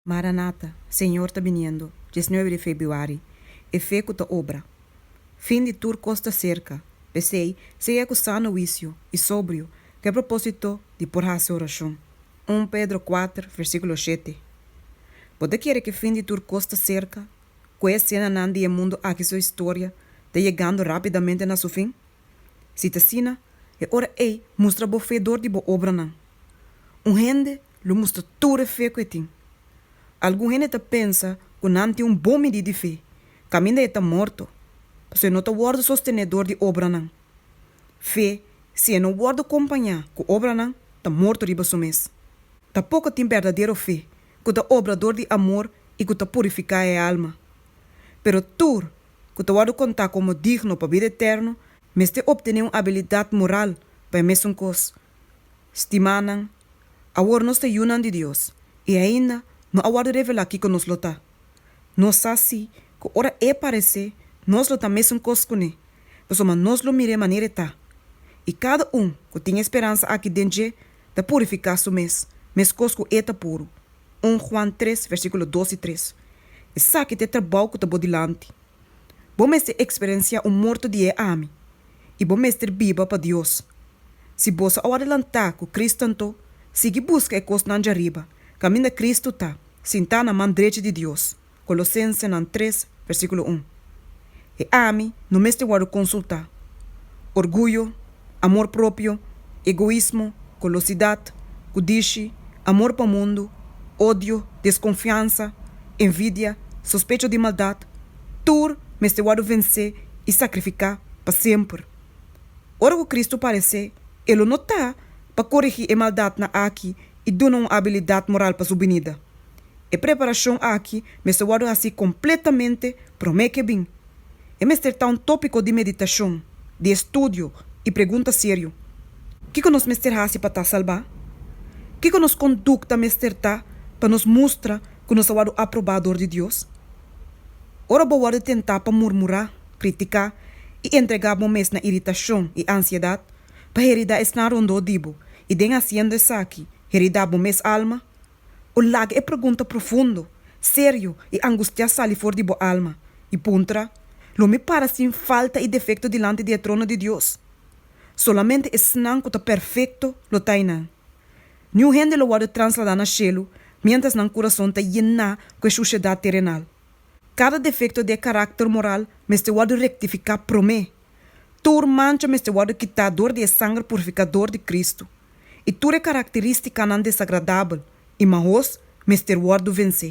Maranata, Señor ta biniendo, diesnuebe di febuari, e fe cu ta obra. Fin di tur cos ta cerca, p'esey segue cu sano huicio y sobrio cu e propósito di por haci oracion. Un Pedro kuater, versiculo shete. Bo ta kere cu fin di tur cos ta cerca, cu e escenanan di e mundo aki su historia ta yegando rapidamente na su fin? Si ta asina, e ora ei mustra bo fe dor di bo obranan. Un hende lo mustra tur e fe ku e tin. Algun hende ta pensa ku nan tin un bon midí di fe, kaminda e ta morto, pasobra e no ta wòrdu sostené dor di obranan. Fe, si e no wòrdu kompañá ku obranan, ta morto riba su mes. Ta poko tin berdadero fe ku ta obra dor di amor i ku ta purifiká e alma. Pero tur ku ta wòrdu kontá komo digno pa bida eterno, mester optené un abilidat moral pa e mesun kos. Stimánan, awor nos ta yunan di Dios i ainda no a wòrdu revelá kiko nos lo ta. Nos sa sí ku ora E paresé, nos lo ta mesun kos kuné, pasobra nos lo mir'é manera E ta. I kada un ku tin e speransa akí den dje ta purifiká su mes, meskos ku E ta puru. 1 Juan tres, versíkulo dos i tres, Esaki ta e trabou ku ta bo dilanti. Bo mester eksperensiá un morto di e ami, i bo mester biba pa Dios. Si boso a wòrdu lantá ku Kristu anto sigui buska e kosnan djariba, kaminda Kristu ta sintá na man drechi di Dios. Colosensenan tres, versículo un, E ami no mester wòrdu konsultá. Orguyo, amor propio, egoismo, golosidat, kudishi, amor pa mundu, odio, deskonfiansa, envidia, sospecho di maldat, tur mester wòrdu vensé i sakrifiká pa semper. Ora ku Kristu paresé, e lo no ta pa korigí e maldatnan aki i duna un abilidat moral pa su binida. E preparashon aki mester wòrdu hasí kompletamente promé ku e bin. E mester ta un tópiko di meditashon, di estudio i pregunta serio, Kiko nos mester hasi pa ta salbá? Kiko nos kondukta mester ta pa nos mustra ku nos a wòrdu aprobá dor di Dios? Ora bo wòrdu tentá pa murmurá, kritiká i entregá bo mes na iritashon i ansiedat pa heridá esnan rondó di bo i den hasiendo esaki heridá bo mes alma, O laga e pregunta profundo, serio i angustiá sali for di bo alma, i puntra, Lo mi para sin falta i defekto dilanti di e trono di Dios? Solamente esnan ku ta perfekto lo ta einan. Niun hende lo wòrdu transladá na shelu miéntras nan kurason ta yená ku e shushedat terenal. Kada defekto di e karakter moral mester wòrdu rektifiká promé Tur mancha mester wòrdu kitá dor di e sanger purifikador di Kristu, i tur e karakterístikanan desagradabel i mahoso mester wòrdu vensé.